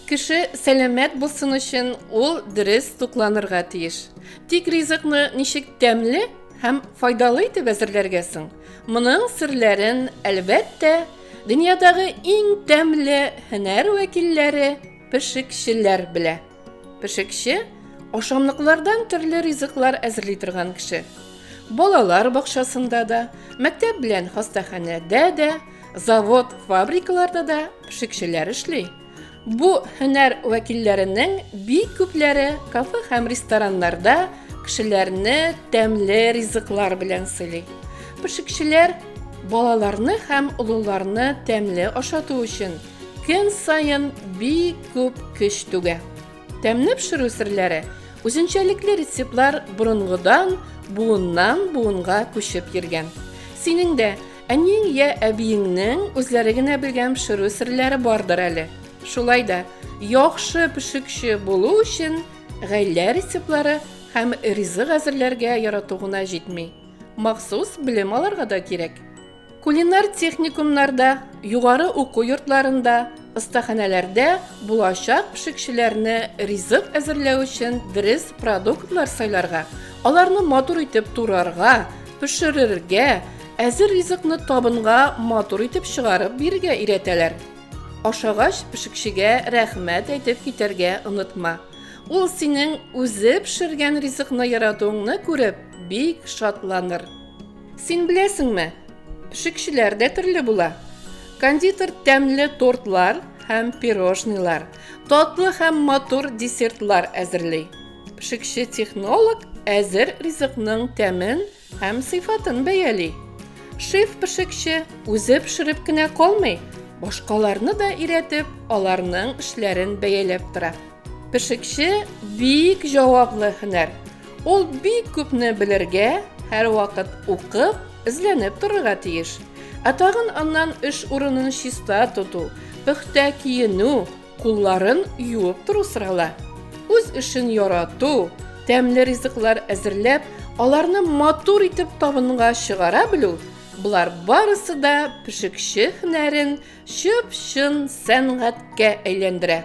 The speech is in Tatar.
Кеше сәламәт булсын өчен ул дөрес тукланырга тиеш. Тик ризыкны ничек тәмле һәм файдалы итеп әзерләргә соң? Моның серләрен, әлбәттә, дөньядагы иң тәмле һөнәр вәкилләре, пешекчеләр белә. Пешекче ашамлыклардан төрле ризыклар әзерли торган кеше. Балалар бакчасында да, мәктәп белән хастаханәдә дә, завод, фабрикаларда да пешекчеләр эшли. Бу һөнәр вәкилләренең бик күпләре кафе һәм рестораннарда кешеләрне тәмле ризыклар белән сыйлый. Пешекчеләр балаларны һәм олыларны тәмле ашату өчен Көн саен бик күп көч түгә. Тәмне пешерү серләре, үзенчәлекле рецептлар борынгыдан буыннан буынга күчеп йөргән. Синең дә әниең я әбиеңнең үзләре генә белгән пешерү серләре бардыр әле. Шулай да яхшы пешекче булу өчен гаилә рецептлары һәм ризык әзерләргә ярату гына җитми, махсус белем алырга да кирәк. Кулинар техникумнарда, югары уку йортларында, остаханәләрдә булачак пешекчеләрне ризык әзерләү өчен дөрес продуктлар сайларга, аларны матур итеп турарга, пешерергә, әзер ризыкны табынга матур итеп чыгарып бирергә өйрәтәләр. Ашагач, пешекчегә рәхмәт әйтеп китәргә онытма. Ул синең үзе пешергән ризыкны яратуыңны күреп, бик шатланыр. Син беләсеңме, пешекчеләр дә төрле була. Кондитер тәмле тортлар һәм пирожныйлар, татлы һәм матур десертлар әзерли. Пешекче технолог әзер ризыкның тәмен һәм сыйфатын бәяли. Шеф пешекче үзе пешереп кенә калмый, башкаларны да өйрәтеп, аларның эшләрен бәяләп тора. Пешекче бик җаваплы һөнәр. Ул бик күпне белергә, һәрвакыт укып, эзләнеп торырга тиеш. Ә тагын аннан эш урынын чиста тоту, пөхтә киенү, кулларын юып тору сорала. Үз эшен ярату, тәмле ризыклар әзерләп, аларны матур итеп табынга чыгара белү, болар барысы да пешекче һөнәрен чып-чын сәнгатькә әйләндерә.